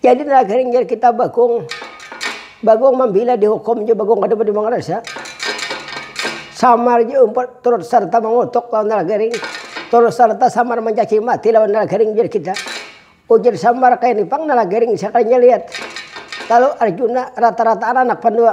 Jadi nah garing jar kita bagong. Bagong mambila dihukum ja bagong kada budi mangarasa. Samar ja umpat turut sarta mangutuk lawan nala garing. Turut sarta samar mancaci mati lawan nala garing jar kita. Ujar samar kayani pang nala garing sakalinya lihat. Lalu arjuna rata-rataan anak pandua.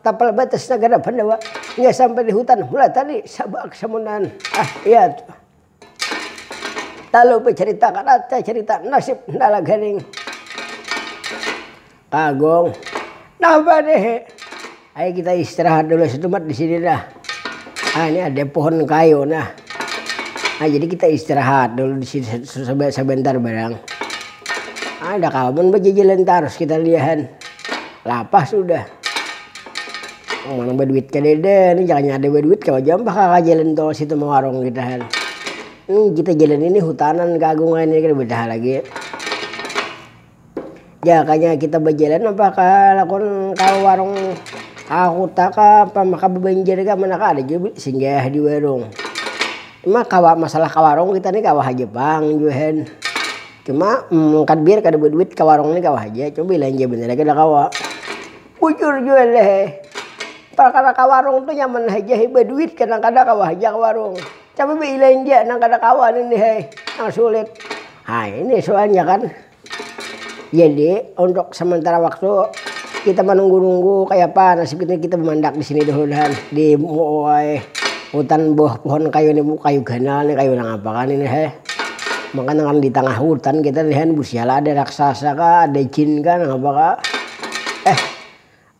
Tapal batas nagara Pandawa hingga sampai di hutan Hula tadi, Sabak, Samundan, ah iya tu. Talu bacarita kadada carita nasib Ndala Garing. Kagong, napa deh, ayu kita istirahat dulu setumat di sini dah. Ini ada pohon kayu nah. Nah jadi kita istirahat dulu di sini sebentar barang. Nah, ada kalbun bejejelan terus kita liahan. Lapah sudah. Oh, mana berduit ke dede, ini jangan ada berduit kalau jampah kakak jalan tol situ mau warung kita kan. Ini kita jalan ini hutanan ke agungan ini kita bedah lagi. Jakanya kita bajalan napa ka lakon ka warung ka kuta ka apa maka babanjar ka mana ka ada jua singgah di warung. Cuma kawa masalah ka warung kita ni kawa haja pang buhan. Cuma mungkad biar kada baduit ka warung ni kawa haja, cuma balanja banar haja kada kawa. Bujur jua lah he, perkara ka warung tu nyaman haja he baduit kadang kada kawa haja ka warung. Tapi baila india nang kada kawa nini hai nang sulit ha ini sualnya kan jadi untuk sementara waktu kita manunggu nunggu kaya apa nasib kita kita bamandak disini dahulu dahan di muai hutan bawah pohon kayu ni bu kayu ganal ni kayu nang apa kah ni ni hai maka nang kada ditangah hutan kita ni han busiala ada raksasa kah ada jin kah nang apa kah eh.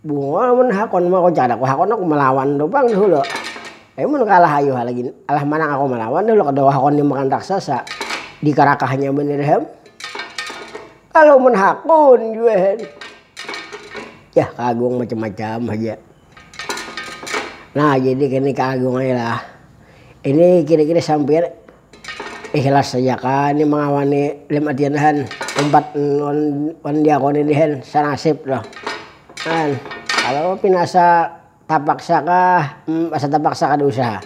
Bunga mun hakun mah ku caraku hakun aku malawan tu pang dahulu. Tapi mun kalah ayu ha lagi alah manang aku malawan dahulu kada kawa hakun dimakan raksasa dikarakahnya banar ham. Kalu mun hakun jua hen yah kaagung macam-macam haja. Nah jadi kini kaagung ai lah ini kira-kira sampiyan Ikhlas haja ka ni mangawani lim adian han, umpat wan diakoni ni han sanasib tuh han, kalo pina asa tapaksa kah humm asa tapaksa kada usaha.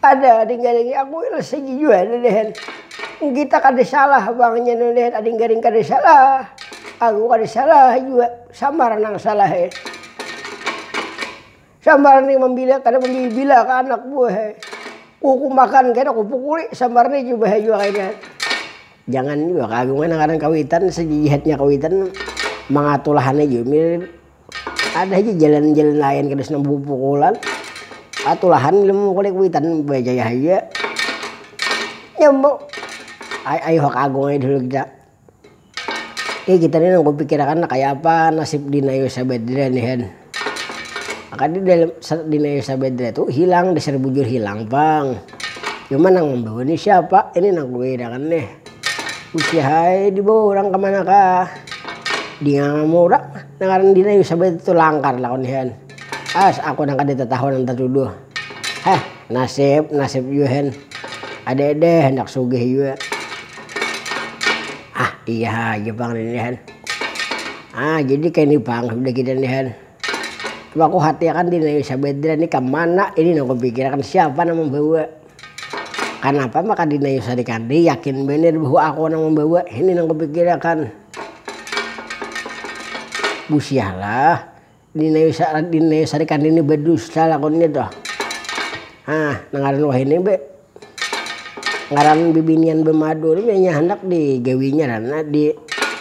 Ada ading garing nih aku ikhlas haja jua nih ni han, kita kada salah pang nya nih han, ading garing kada salah, aku kada salah jua samar nang salah. Sambar ni mambilik kada mambibilah ka anak buah. Kuku makan kena kupukuli sambar ni jua bahaya jua kayanya. Jangan jua ka agung ai nang ngaran kawitan sajijihatnya kawitan mangatulah ni jua mir ada haja jalan jalan lain kada usah nang bapupukulan atulahan bila mamukuli kawitan bajaya haja. Nyambung ai ayuha ka agung ai dahulu kita. Ih kita ni nang kupikirakan nang kaya apa nasib Dina Yusabedre ni hen. Maka di dalam Dina Yusabedre tu hilang, dasar bujur hilang pang. Cuma nang mambawa ni siapa, ini nang kukirakan nih. Usihae dibawa urang kamanakah. Dingangam urang nang ngaran Dina Yusabedre tu langkar lah koni hen. As aku nang kada tatahu nang tatuduh. Heh, nasib, nasib jua hen. Ade-ade handak sugih jua. Ah, iya haja pang ini nih hen. Ah, jadi kaya ni pang sudah kita nih hen. Coba ku hatiakan diri nang Sabedra nih ka mana ini nang kupikirakan, siapa nang mambawa. Kanapa maka di nang sarikan nih yakin banar bahwa aku nang mambawa, ini nang kupikirakan. Busiah lah. Dinayusarikan nini badusta lakunnya tu. Hah nang ngaran wahini be ngaran bibinian bamadu ni inya handak di gawinya lah nah di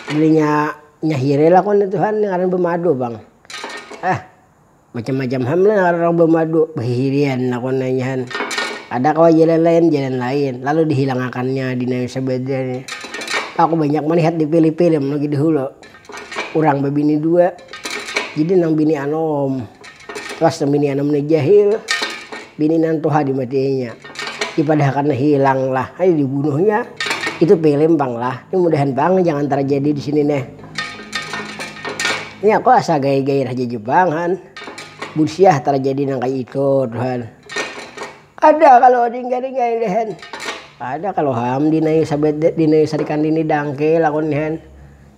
dirinya nyahiri lakunnya tu han ngaran bamadu pang. Hah macam macam ham lah ngaran urang bamadu bahihirian lakunnya nya han. Ada kawa jalan lain jalan lain lalu dihilangakannya dinayusa badua ni. Aku banyak malihat di pili pilim lagi dahulu. urang babini dua jadi nang bini anom pas nang bini anom ni jahil bini nang tuha dimatiainya dipadahakan hilang lah hai dibunuhnya itu film pang lah ini mudahan pang jangan terjadi di sini neh ini aku asa gaya-gaya haja jua pang han busiah terjadi nang kaya itu tuh han ada kalo dingga-dingga ini han ada kalo ham dinayu sabada dinayu sarikandini dangkel aku ni han.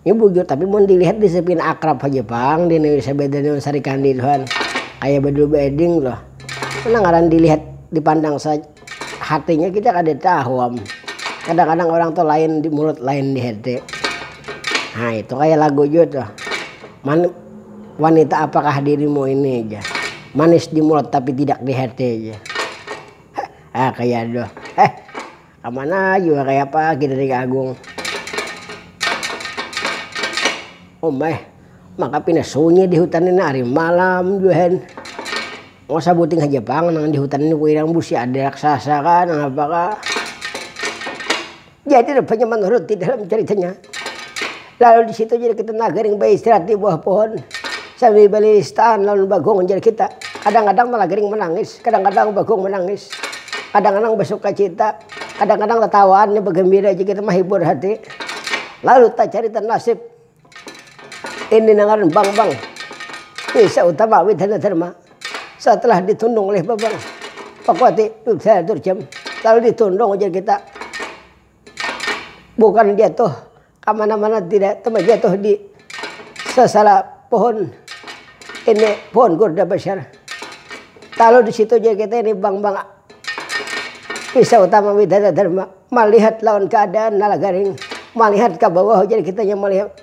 Ini bujur tapi mun dilihat disiplin akrab haja pang di Indonesia beda dengan Sarikandi tuhan kayak bedul beding tuh mana ngaran dilihat dipandang saja hatinya kita kada tahu am kadang-kadang orang tuh lain di mulut lain di hati nah itu kayak lagu juga tuh Man, wanita apakah dirimu ini aja manis di mulut tapi tidak di hati aja ah kayak aduh eh Kamana jua kayapa gin Ring Agung. Umeh, maka pina sunyi di hutan ini ari malam jua hen. Wong sabuting haja pang nang di hutan ini kuirang busi ada raksasa kah nang apa kah. Jadi rupanya manurut di dalam caritanya. Lalu di situ jadi kita nah garing baistirahat di buah pohon sambil balilistaan lawan Bagong jar kita. Kadang-kadang malah garing manangis, kadang-kadang Bagong manangis, kadang-kadang basukacita, kadang-kadang tatawaan nih bagambira aja kita mahibur hati. Lalu tacarita nasib ini nah ngaran Bangbang Desa Utama Widana Dharma setelah ditundung oleh Babang Pakuati Dudhaya Durjam lalu ditundung jar kita bukan jatuh Kamana mana tidak tamajatuh di sasala pohon ini pohon gurda basyar. Talu di situ ja kita ini bang bang pisau tama widana dharma malihat lawan keadaan nala garing malihat ka bawah ujar kita nya malihat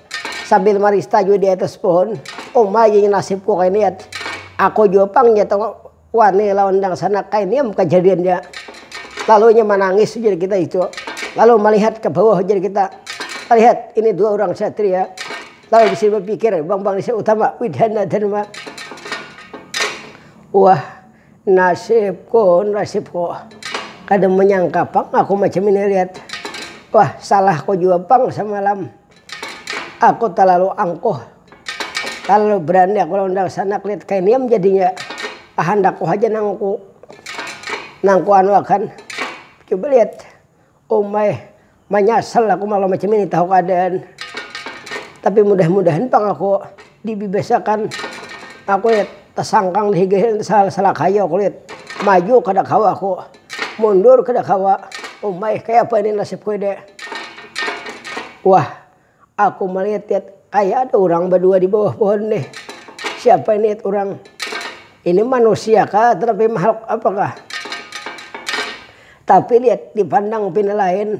sambil marista jua di atas pohon uma inya nasibku kainiat aku jua pang nya tong. Wani lawan dangsanak kainiam kajadiannya. Lalu inya manangis ujar kita itu. Lalu malihat ka bawah ujar kita. Malihat ini dua urang satria. Lalu di sini bapikir Bambang Desa Utama, Widhana Dharma. Wah, nasibku, nasibku. Kada manyangka pang aku macam ini lihat. Wah, salahku jua pang samalam. Aku talalu angkuh, talalu berani aku lawan Darsan, aku lihat kaya niam jadinya kahandakku haja nang ku nang ku anu akan. Coba lihat, umai manyasal aku malam macam ini tahu keadaan. Tapi mudah-mudahan pang aku Dibibiasakan aku kulit, tasangkang dihigain salakaya kulit, maju kada kawa aku, mundur kada kawa, umai kayapa ini nasib kuede. Wah aku maliatit kaya ada urang badua dibawah pohon nih, siapa ini urang, ini manusia kah tanapi mahluk apakah, tapi dipandang pina lain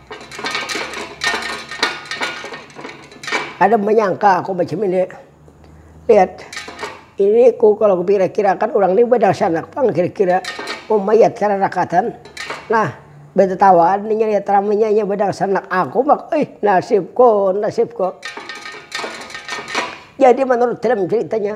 Kada manyangka aku macam ini. Lihat. Ini ku kalau kupikir-kirakan urang ni badangsanak pang kira-kira. Umayat kararakatan. Nah, batatawaan inya lihat ramanya inya badangsanak aku maka ih nasibku, nasibku. Jadi menurut dalam ceritanya.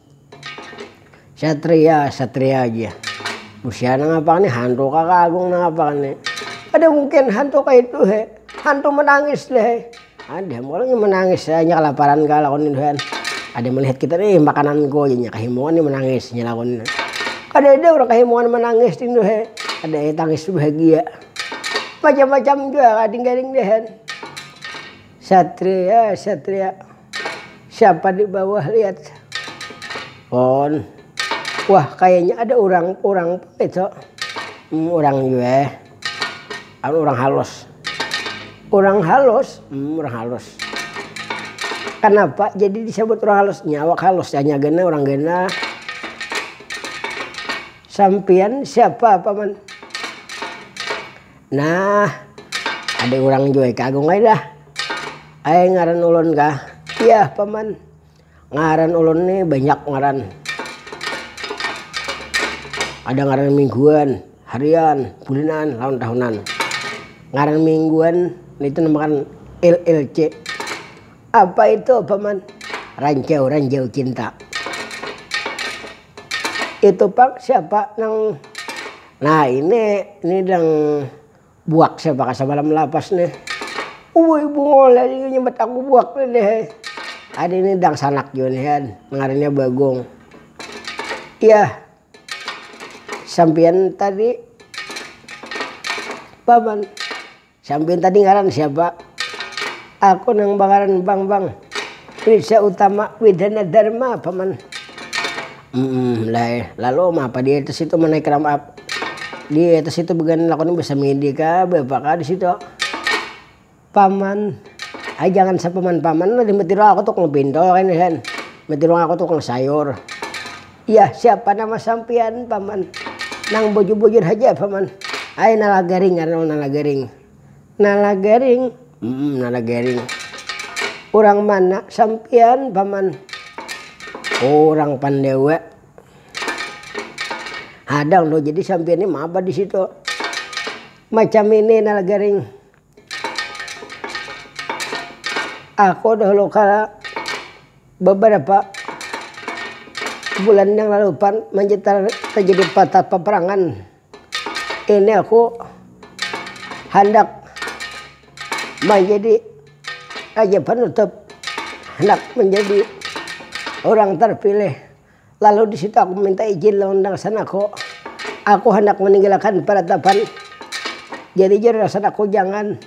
Satria, satria aja. Usia nang apa nih, hantu kah kagung nang apa nih. Kada mungkin hantu kaitu he, hantu menangis deh he. Ada am kalo menangis he, inya kalaparan kah lakon itu he. Kada melihat kita nih makananku, inya kahimungan nih menangis inya lakon. Kadada urang kahimungan menangis itu he, ada he tangis bahagia. Macam-macam jua gading-gading deh he. Satria satria siapa di bawah lihat pon wah kayanya ada urang urang itu urang jue ada urang halus urang halus urang halus kenapa jadi disebut urang halus nya awak halus nya gena urang gena sampian siapa paman. Nah, ada orang jua ka agung ai dah. Ai ngaran ulun kah? Iya, paman. Ngaran ulun nih banyak ngaran. Ada ngaran mingguan, harian, bulinan, lawan tahunan. Ngaran mingguan nitu namakan LLC. Apa itu, paman? Ranjau-ranjau cinta. Itu pang siapa nang Nah ini, ini dang buak siapa ka samalam lapas nih. Uwuy bungul ada jua nyambat aku buak nih deh. Ada ini dangsanak jua nih kan, ngarannya Bagong. Yah, sampiyan tadi paman. Sampiyan tadi ngaran siapa? Aku nang bangaran Bambang, Prisa Utama Widana Dharma, Paman. Umm, lai. Lalu uma apa di atas situ manaik ram up? Di atas situ beganan aku ni basamidi kah, beapa kah di situ? Paman, Ai jangan sapaman-paman lah, di mati urang aku tukang pinto kayni, Hen. Mati urang aku tukang sayur. Yah, siapa nama sampiyan paman. Nang bujur-bujur haja paman. Ai Nalagaring ngaranmu Nalagaring. Nalagaring, humm Nalagaring. Urang mana sampiyan paman. Urang Pandewa. Hadang tuh jadi sampiyan nih maba disitu. Macam ini Nalagaring. Aku dahulu kala beberapa bulan yang lalu pan manja terjadi patah peperangan. Ini aku handak manjadi raja penutup, handak manjadi orang terpilih Lalu di situ aku minta ijin lawan dangsan aku, aku handak maninggilakan paratapan. Jadi jar dangsan aku jangan,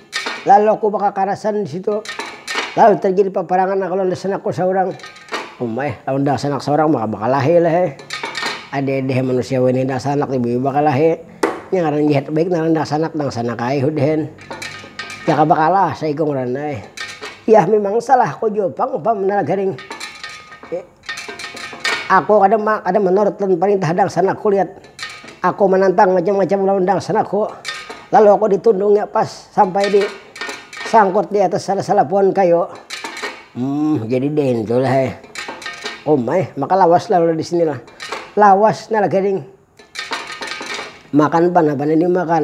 lalu aku bakakarasan di situ. Lalu tarjadi paparangan aku lawan dangsan aku saurang. Uma eh, lawan dangsan anak saurang maka bakalahi lah eh. Ada-ada eh manusia wayahini dangsan anak ti buyu bakalahi. Nya ngaran jahat baik ngaran dangsan anak, dangsan anak ai hudihan. Jaka bakalah saikung ngarannya eh. Yah mimang salah aku jua pang, umpama nalagaring. Ako kada ma kada manurut lawan parintah dangsanak kuliat ako manantang macam macam lawan dangsanak ko lalu ako di tundung nya pas sampai di sangkut di atas salah salah pohon kayu um jadi dengki lah eh uma eh maka lawas lah di sini lah lawas nah lah gading makan pa napa nang di makan.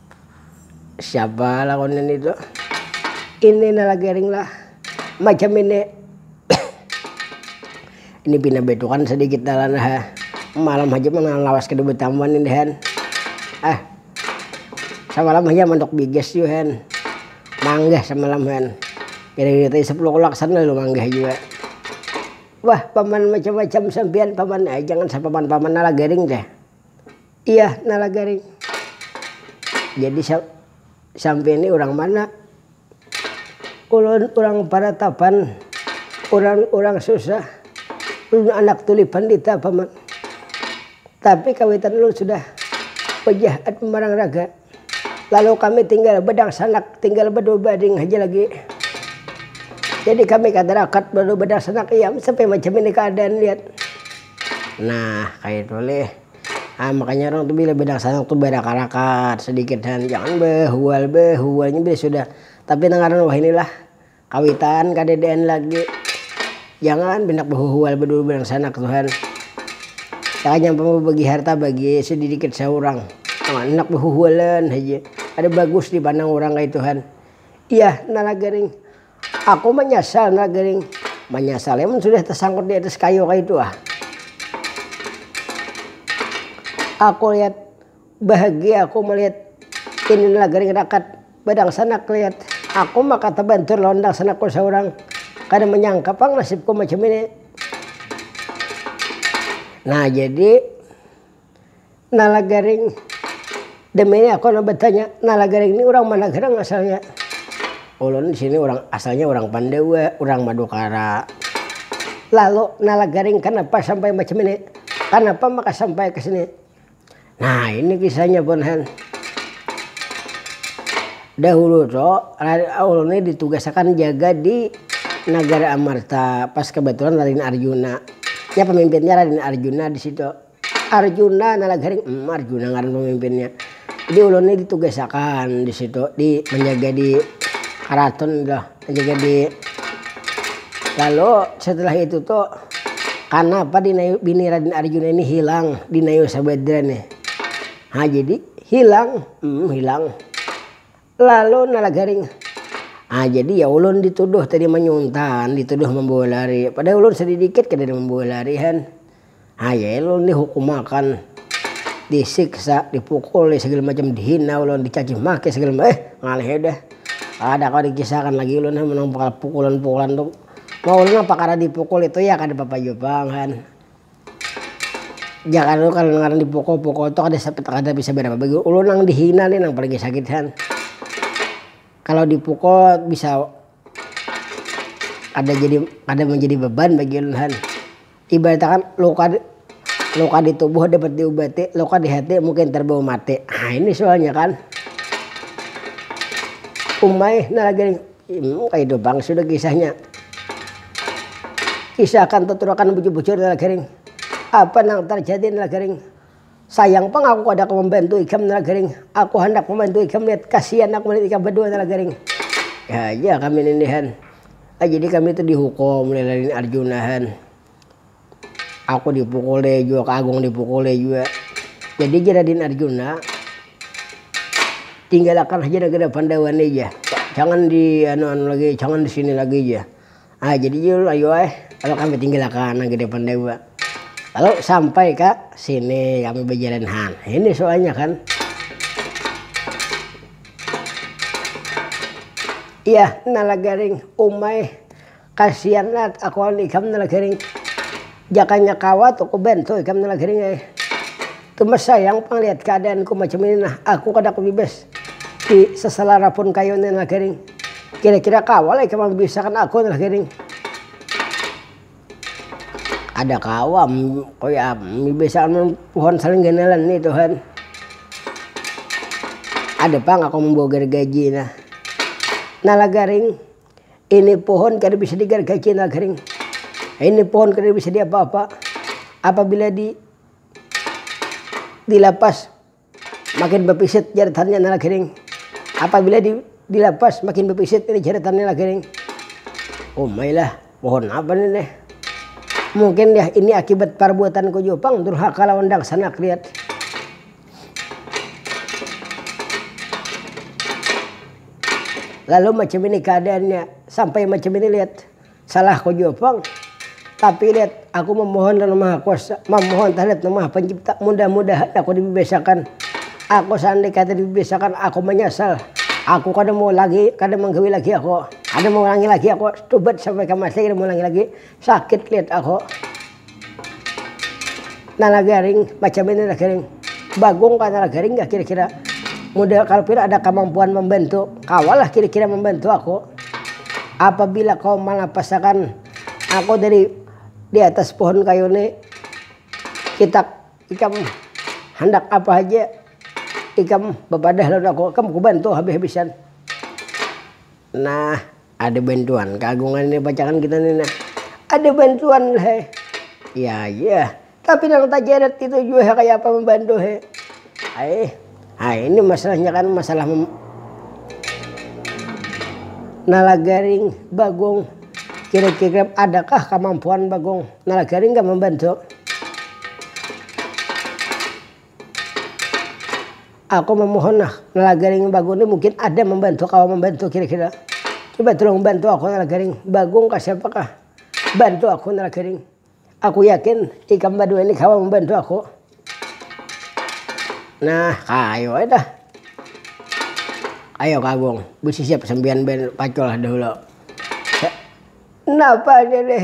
Siapa lawan ini tu. Ini nah lagi ring lah macam ini. ini pina betukan sedikit nah lah ha. Malam haja pina lawas kada betamuan ini hen. Ah samalam haja mantuk bigas jua hen. Manggah samalam hen. Kira-kira tadi sepuluh kulak sana lalu manggah jua. Wah paman macam-macam sampian paman. Ai jangan sapaman-paman nah lagi ring ja. Iyah nala garing. Jadi sampiyan ni urang mana? Ulun urang paratapan, urang urang susah. Ulun anak tuli pandita paman. Tapi kawitan ulun sudah pajah at pamarang raga. Lalu kami tinggal bedangsanak, tinggal bedua baring haja lagi. Jadi kami kada rakat bedua bedangsanak iam sampai macam ini keadaan lihat. Nah, kayak itu leh. Ah, makanya orang tuh bila bedangsanak tuh berakat-rakat sedikitan, jangan behual behualnya bila sudah. Tapi nang ngaran wahinilah Kawitan kadadaan lagi. Jangan banyak bahuhual badua badangsanak tuhan. Takanyang pang babagi harta bagi sadidikit saurang. Handak bahuhualan haja. Kada bagus dipandang urang kaituhan. Iyah nalagaring. Aku manyasal nalagaring. Manyasalnya mun sudah tasangkut di atas kayu kaitu ah. Aku lihat. Bahagia aku malihat ini lagaring rakat badangsanak lihat aku maka tabantur lawan dangsanakku saurang. Kada manyangka pang nasibku macam ini. Nah jadi nah lagaring demi ini aku nah batanya nah lagaring ini urang mana garang asalnya. Ulun disini urang asalnya urang pandawa urang madukara. Lalu nah lagaring kanapa sampai macam ini kanapa maka sampai kesini. Nah ini kisahnya pun han. Dahulu tuh Raden Aul ini ditugasakan jaga di Nagara Amarta. Pas kebetulan Raden Arjuna. Ya pemimpinnya Raden Arjuna di situ. Arjuna nalag haring, hmm Arjuna ngaran pemimpinnya. Jadi ulun ini ditugasakan di situ di menjaga di karaton tuh. Lalu setelah itu tu kanapa Dinayu bini Raden Arjuna ini hilang Dinayu Sabadra nih. Ha jadi hilang, hmm hilang. Lalu nala garing. Ha jadi ya ulun dituduh tadi manyuntan, dituduh mambawa lari. Padahal ulun sadidikit kadada mambawa lari han. Hayai ulun dihukumakan, disiksa, dipukuli sagala macam, dihina ulun, dicacimaki sagala macam, eh ngalihi dah. Kada kawa dikisahakan lagi ulun ha nang perkara pukulan-pukulan tu. Mun ulun mah perkara dipukul itu ya kada apa-apa jua pang kan. Jar anu kan ngaran dipukul-pukul tu kada bisa berapa bagi ulun nang dihina ni nang paling sakit kan. Kalau dipukul bisa. kada jadi kada manjadi beban bagi ulun han. Ibarat akan luka luka di tubuh dapat diubati, luka di hati mungkin terbawa mati. Nah ini soalnya kan. Umai nah lagi nih, hmm kaya itu pang sudah kisahnya. Kisah akan tuturakan bujur-bujur nang lagi ring, apa nang terjadi nang lagi ring. Sayang pang aku kada kawa mambantu ikam Nala Garing. Aku handak mambantu ikam Yat, kasian aku malihat ikam badua Nala Garing. Ih aja kami nindihan. Ai jadi kami tu dihukum uleh lalin Arjunahan. Aku dipukuli jua, Ka Agung dipukuli jua. Jadi jar Radin Arjuna, tinggalakan haja nagara Pandawa ni jar. Jangan di anu-anu lagi, jangan di sini lagi jar. Nah jadi jul ayu ai kalo kami tinggil akan nang gede pandai jua. Lalu sampai ka sini kami bajalan han ini suanya kan. Iyah nala garing umai kasian lat akuan ikam nala garing. Jakanya kawa tu ku bantu ikam tu nah gering ai. Tumas sayang pang lihat keadaan ku macam ini nah, aku kada kubibas di seselara pun kayu ni nah gering. Kira kira kawa lah ikam mambisakan aku nah gering. Kada kawa kaya apa mambisakan mun pohon salingganalan ni tuhan. Ada pang aku mambawa gargaji nah. Nah lah garing. Ini pohon kada bisa di garga cina kering. Ini pohon kada bisa di apa-apa. Apabila di dilapas makin bapisit jaratannya nala kering. Apabila di dilapas makin bapisit ini jaratannya nala kering. Umai lah pohon apa ni deh. Mungkin deh ini akibat parbuatanku jua pang durhaka lawan dangsanak lihat. lalu macam ini keadaannya sampai macam ini lihat salah kau jua pong tapi lihat aku memohon dan maha kuasa memohon terhadap maha pencipta mudah-mudahan aku dibebasakan aku seandainya kata dibebasakan aku menyesal aku kada mau lagi kada menggawi lagi aku kada mengulangi lagi aku tubat sampai ke mati kada mengulangi lagi sakit lihat aku Nala garing, macam ini nala garing. Bagong kah nala garing kah kira-kira. Model kalau pian ada kamampuan mambantu, kawalah kira-kira mambantu aku. Apabila kau malapasakan aku dari di atas pohon kayu ni, kita ikam handak apa haja ikam bapadah lawan aku, ikam kubantu habis-habisan. Nah. Ada bantuan keagungan ini bacakan kita nih nah. Ada bantuan he. Ya ya. Tapi nang tajeret itu juga he kayak apa membantu he. Aih. Ah ini masalahnya kan masalah mem Nalagaring Bagong. Kira-kira adakah kemampuan Bagong? Nalagaring gak membantu? Aku mamohon nah, Nalagaring Bagong ni mungkin ada mambantu kawa mambantu kira-kira. Coba tulung bantu aku Nalagaring. Bagong kah siapa kah? Bantu aku Nalagaring. Aku yakin ikam badua ni kawa mambantu aku. Nah, kayu ai dah. Ayo Kagung, basisiap sampiyan banar pacul dahulu. Napa ini nih?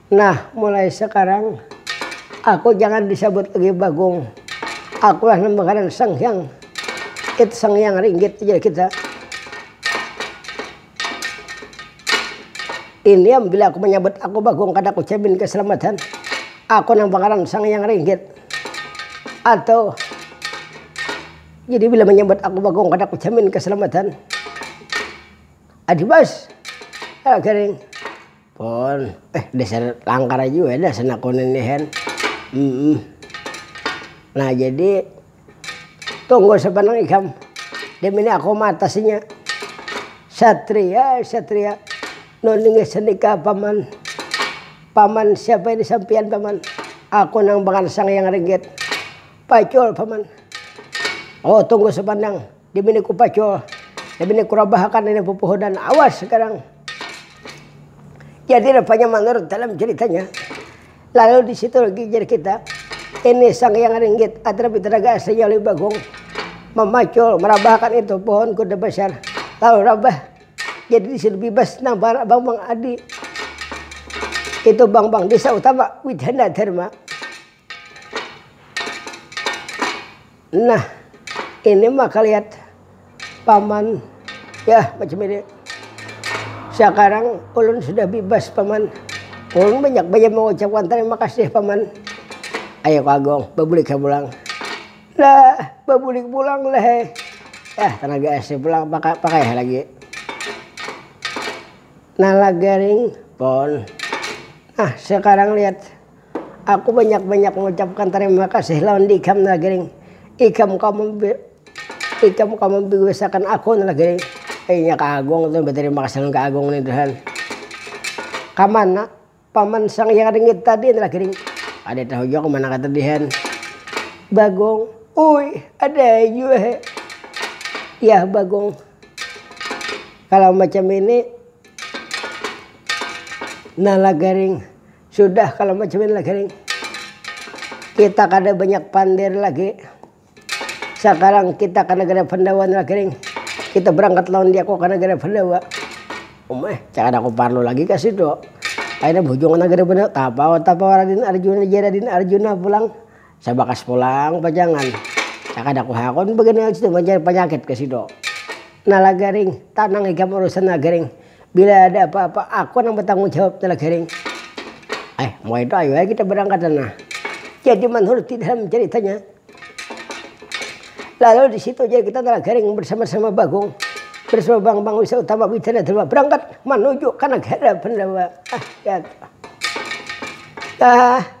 Nah, mulai sakarang aku jangan disabut lagi Bagong. Akulah nang bangaran Sang Hyang. It Sang Hyang Ringgit, ujar kita. Iniam bila aku manyabut aku Bagong kada kujamin kasalamatan. Aku nang bangaran Sang Hyang Ringgit. Atau jadi bila manyabut aku Bagong kada kujamin kasalamatan. Adibas, kala garing. Pon, eh dasar langkar jua dah senakun ini hen. Hmm. Nah jadi tunggu sepanang ikam. Dia mini aku matasinya. Satria, satria. Nuningnya senikah paman. Paman siapa ini sampian paman. Aku nang bakansang yang ringgit. Pacul paman. Oh tunggu sepanang. Dimini ku pacul, dimini ku rabahakan ini pupuhudan awas sekarang. Jadi rupanya manurut dalam ceritanya, lalu di situ lagi jar kita, ini Sang Hyang Ringgit Adra Pitaraga aslinya Lui Bagong memacul merabahakan itu pohon kuda besar lalu rabah jadi di situ bebas nampar Bang Bang Adi itu Bang Bang Desa Utama Widhana Dharma Nah, ini mah kaliat paman ya macam ini. Sekarang ulun sudah bibas paman. Ulun banyak baja mengucapkan terima kasih paman. Ayo ka Agung, babulik ha pulang. Lah, babulik pulang lah he. Yah, tenaga ese pulang pakai ha lagi. Nala garing pon. Nah, sekarang lihat. Aku banyak-banyak mengucapkan tarima kasih lawan ikam Nagering. Ikam kawa ikam kawa mambiusakan aku Nagering. Inya ka Agung tu batarima kasih lawan ka Agung nih tuhan. Kamana paman Sang Hyang Ringit tadi Nagering. Kada tahu jua kamana ka tadi han. Bagong, uy ada jua he. Yah Bagong, kalau macam ini Nalagering. Sudah kalo macamin lagi ni. Kita kada banyak pander lagi. Sakarang kita ka nagara Pandawa ni lagi ni. Kita berangkat lawan dia ko ka nagara Pandawa. Um eh, kada ku parlu lagi ka situ. Akhirnya bahujung ka nagara Pandawa. Tapawa-tapawa Raden Arjuna ja Raden Arjuna pulang. Sabakas pulang pajangan, sakada kuhakun bagana situ manjari panyakit ka sido. Nala garing, tanang ikam urusan nala garing, bila ada apa-apa aku nang batanggung jawab nala garing. Eh, mun kaya itu ayu ai kita barangkatan nah. Jadi manhuruti dalam caritanya. Lalu di situ ja kita nala garing bersama-sama Bagong, bersama Bang Bang Wisa Utama Widana Dharma berangkat manuju ka nagara Pandawa. Ah, ya. Ah.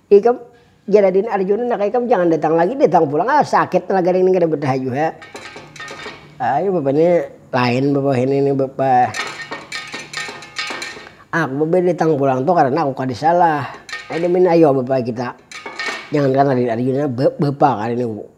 Ikam, jar adin Arjuna, naka ikam jangan datang lagi, datang pulang ah sakit tenaga ring ni kada batahayu ha. Ayu bapa ni lain bapa wahini ni bapa. Aku bapa datang pulang tu karana aku kada salah. Ayu damian ayu bapa kita. Jangankan adin Arjuna, ba bapa kada niku.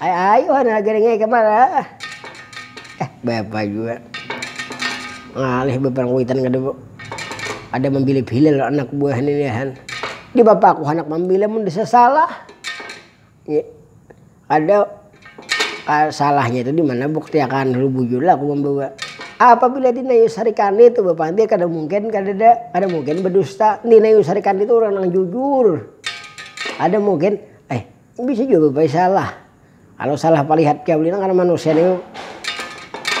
ayuhan lagi kemana eh bapak juga ngalih beberapa witan kedua ada memilih pilih anak buah nilihan di bapak aku anak memilih mun disesalah ya, ada ah, salahnya itu di mana bukti akan lu bujur lah aku membawa apabila di Nayu Sarikandi itu Bapak dia kada mungkin kada ada kada mungkin berdusta di Nayu Sarikandi itu orang yang jujur ada mungkin Bisa jua babai salah, kalo salah palihat kaya ulina karna manusia ni nang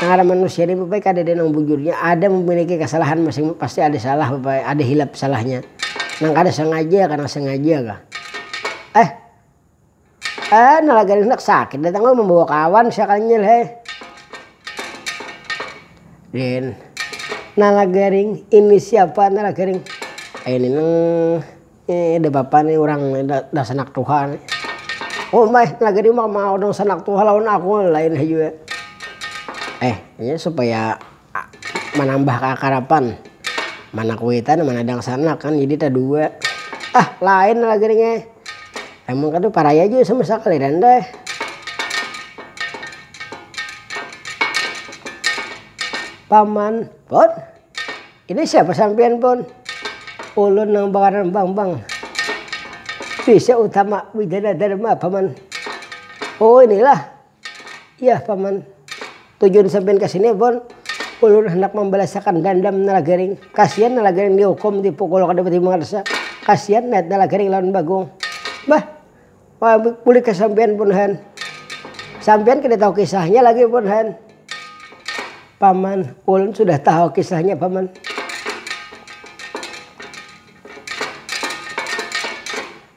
ngaran manusia ni babai kadada nang bujurnya ada mamiliki kasalahan masing pasti ada salah babai ada hilap salahnya nang kada sangaja ka nang sangaja ka eh eh nala garing handak sakit dah tanggal mambawa kawan sia kanyil he din nala garing ini siapa nala garing ini nang. Ih ada bapa nih urang nih dah sanak tuha nih. Oh meh laga di umah mah urang sanak tuha lawan aku lain ha jua. Eh inya supaya manambah kaakarapan mana kuitan mana dangsanak kan jadi tadua. Ah lain laga nih ngeh. Emang kada paraya jua sama sakali dah enda eh. Paman, Pon. Ini siapa sampiyan pun. Ulun nang bangaran Bambang. Bisa Utama Widana Dharma paman. Oh inilah. Yah paman. Tujuan sampiyan kasini pun ulun handak mambalasakan dandam Nalagaring. Kasian Nalagaring dihukum, dipukul kada bati mangarsa. Kasian niat Nalagaring lawan Bagong. Bah. Bulik ka sampian buhan. Sampian kada tahu kisahnya lagi buhan. Paman, ulun sudah tahu kisahnya paman.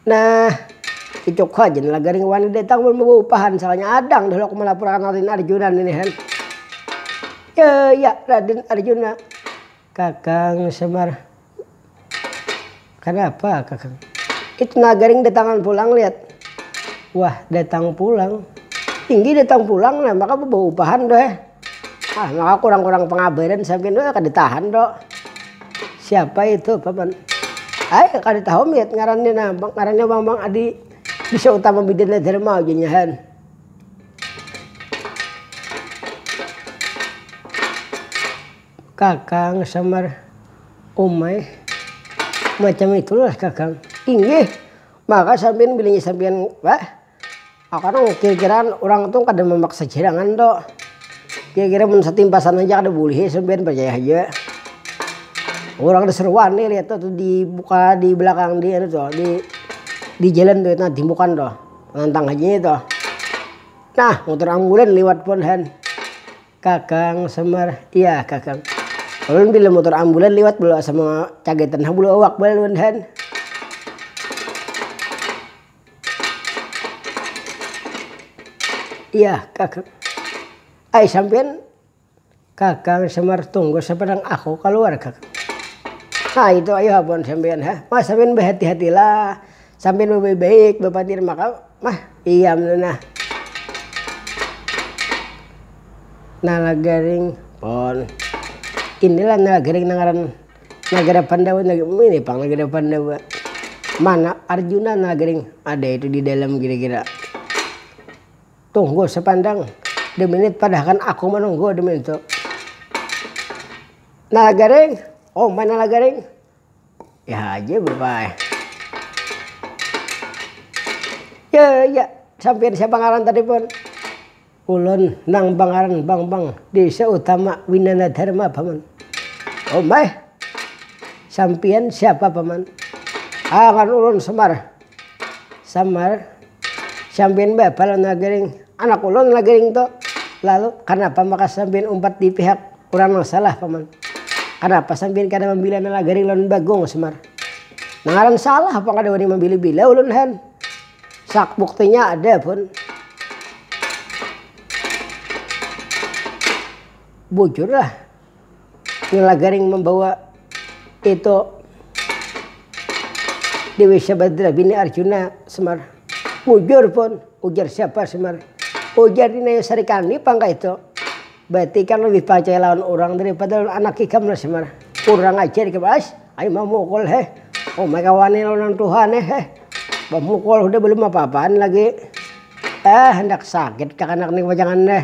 Nah, icuk haja ni lagari wani datang mun baupahan salahnya adang dah aku malapur akan raden arjuna ni han. Yaya raden arjuna, kakang semar. Kada apa kakang. Itu nah garing datangan pulang liat. Wah datang pulang. Tinggi datang pulang nah maka bebau upahan doh eh. Ah maka kurang kurang pengabaran sampian doh eh kada tahan doh. Siapa itu paman. Ai kada tahu miat ngarannya nah ngarannya mamang adi bisa utama bidana dharma ujar nya han. Kakang sambar umai macam itulah kakang. Inggih, maka sampin bilingi sampian bah. Aku tu kira-kiraan urang tu kada mamaksa cirangan tu. Kira-kira mun satimpasan haja kada bulihi sampian parcaya haja. Urang seruan ni lihat tu di muka di belakang di anu tu di di jalan tu nah timbukan tu nantang haja itu. Nah mutur ambulan liwat pun han. Kakang Semar, iya kakang. Ulun bila mutur ambulan liwat bulu asa macagaitan ha bulu awak banar wan han. Iya kakang. Ai sampiyan kakang Semar tunggu sapadang aku kaluar kakang. Ha itu ayu ha buhan sampiyan ha. Mas sampiyan bahati-hatilah. Sambil babaik-baik bapatir maka mah iam tu nah. Nalagaring pon. Inilah Nalagaring nang ngaran nagara Pandawa ini pang nagara Pandawa. Mana Arjuna Nalagaring ada itu di dalam kira-kira. Tunggu sapandang dua minit padahakan aku manunggu dua minit tu. Nalagaring, oh ma Nalagaring. ya aja bapak ya ya sampai siapa ngaran tadi pun ulun nang bangaran bang bang desa utama winana dharma paman oh mai sampian siapa paman ah ngaran ulun semar samar sampiyan bapa lawan nagaring anak ulun nagaring tu lalu kanapa maka sampiyan umpat di pihak urang nang salah paman kanapa sampiyan kada mambila nagaring lawan bagong samar nang ngaran salah pang kada wani mambila bila ulun han sak buktinya ada pun bujur lah. Nila garing mambawa itu Dewi Sabadra bini Arjuna, Semar. Mujur pun, ujar siapa Semar. Ujar Dina ya sarikandi pang kaitu. Berarti ikam lebih parcaya lawan urang daripada lawan anak ikam lah Semar. Kurang ajar ikam ass, ayu mamukul heh. Umai ka wani lawan urang tuha nih heh. Bamukul hudah belum apa-apaan lagi. Ehh handak sakit kah anak nih pajangan nih.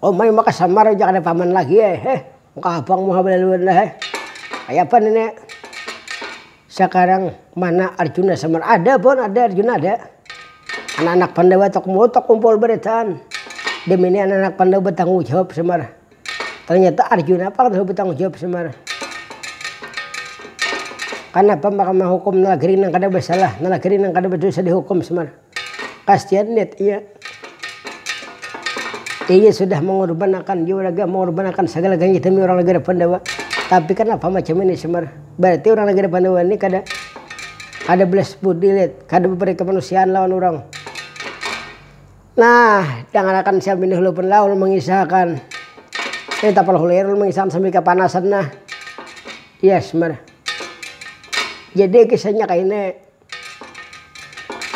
Umai maka samar ja kada paman lagi ai heh muka habang muha balaluan lah eh kayapa ni nek sakarang mana arjuna samar ada pon ada arjuna ada anak anak pandawa tok muha tok kumpul baritaan demi ni anak anak pandawa batanggung jawab samar ternyata arjuna pang tahu batanggung jawab samar kanapa maka mahukum nalagri nang kada basalah nalagri nang kada badosa dihukum samar. Kasian net iya. Iya sudah mengorbanakan juraga, mengorbanakan segala galanya demi orang negara Pandawa. Tapi kanapa macam ini Semar? Berarti orang negara Pandawa ini kada kada belas budi net, kada baperi kemanusiaan lawan urang. Nah, dangarakan siam ini hulu pun lah ulun mengisahakan. Ini tapal hulu air ulun mengisahakan sambil kapanasan nah. Iya Semar. Jadi kisahnya kaini.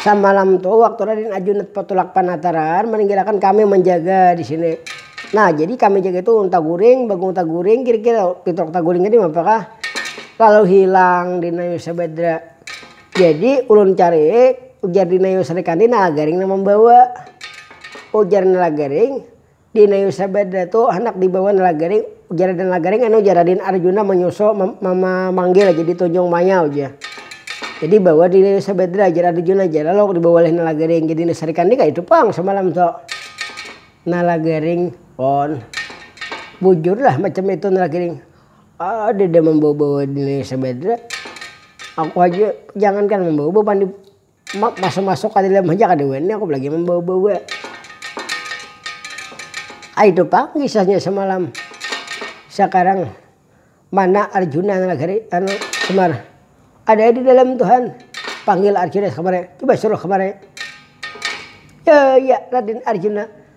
Samalam tu waktu Raden Ajunat patulak panataran maninggalakan kami manjaga di sini. Nah, jadi kami jaga itu unta guring, bagung taguring, kira-kira pitrok taguring tadi mapakah lalu hilang Dinayu Sabadra. Jadi ulun cariik, ujar Dinayu Sri Kandi nala garing nang mambawa. Ujar nala garing, Dinayu sabada tu handak dibawa Nalagaring, ujar Raden Nalagaring anu ujar Raden Arjuna manyusul mamanggil jadi tunjung maya uja. Jadi bawa Dinayu Sabadra ujar Arjuna ja lalu dibawa oleh Nalagaring jadi nasarikan ni kaitu pang samalam tu. Nalagaring, on. Bujurlah macam itu Nalagaring, kadada mambawa-bawa Dinayu Sabadra, aku haja jangankan mambawa bapandi. Masuk-masuk ka dalam haja kada wani aku balagi mambawa-bawa. Ai tu pang kisahnya samalam. Sakarang mana arjuna nang lagi anu semar. Ada di dalam tuhan. Panggil arjuna kamari. Coba suruh kamari. Yaya raden arjuna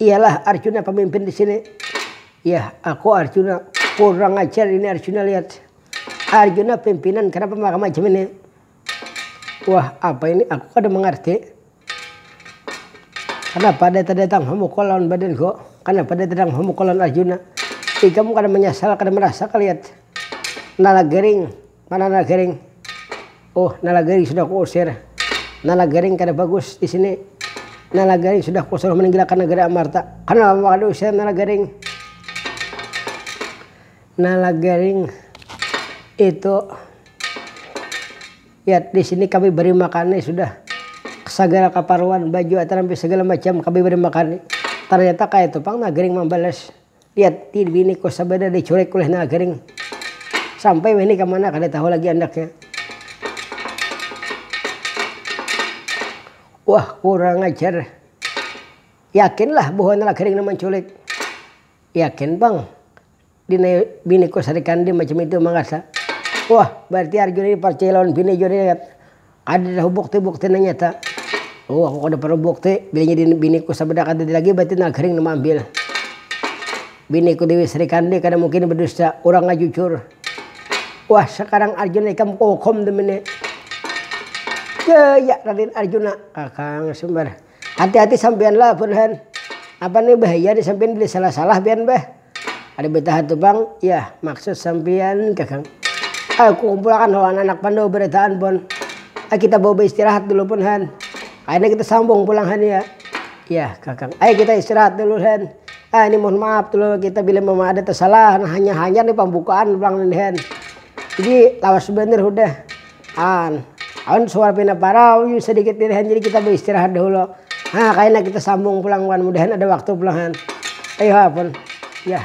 Iyalah arjuna pamimpin disini. Yah aku arjuna kurang ajar ini arjuna lihat arjuna pimpinan kenapa maka macam ini wah apa ini aku kada mangarti kenapa data datang hamukul lawan badanku kenapa data datang hamukul lawan arjuna ikam kada manyasal kada marasa kaliat nalagering. Mana nala garing. Oh, nala garing sudah kuusir. Nala garing kada bagus di sini. Nala garing sudah kusuruh maninggilakan nagara Amarta. Kanapa maka diusir nala garing? Nala garing itu ya di sini kami beri makani sudah sagala kaparluan baju atarampi sagala macam kami beri makani. Tarnyata kaya itu pang nala garing mambalas. Liat ti bini kos sabada deh curek kulih nala garing. Sampai wahini kamana kada tahu lagi andaknya. Wah kurang ajar. Yakin lah bahwa nala garing nang manculik. Yakin pang. Dina bini kos hari kandi macam itu mangarsa. Wah berarti Arjuna ini parcaya lawan bini jua nih. Kada tahu bukti bukti nang nyata. Uhuh aku kada parlu bukti, bilanya di biniku sabada kadada lagi batin nang kering nang maambil. Biniku dewi srikandi kada mungkin badusta, urangnya jujur. Wah sakarang arjuna ikam kuhukum damini. Jaya raden arjuna, kakang sumbar. Hati hati sampianlah buhan, napa nih bahaya nih sampian bila salah salah pian bah. Kada betaha tu pang yah maksud sampiyan kakang. Aku kumpulakan hawa anak anak pandawa barataan pon. Ai kita bawa baistirahat dulu pon han. Kaina kita sambung pulang han ya. Yah kakang. Ai kita istirahat dulu han. Ah ini mohon maaf tu lo kita bila memang ada tersalah hanyar hanyar ni pambukaan pulang ini han. Jadi lawas banar hudah. An. Awan suara pina parau yu sadikit lirih han jadi kita baistirahat dahulu. Ha kaina kita sambung pulang wan mudahan ada waktu pulang han. Ayuha pun. Yah.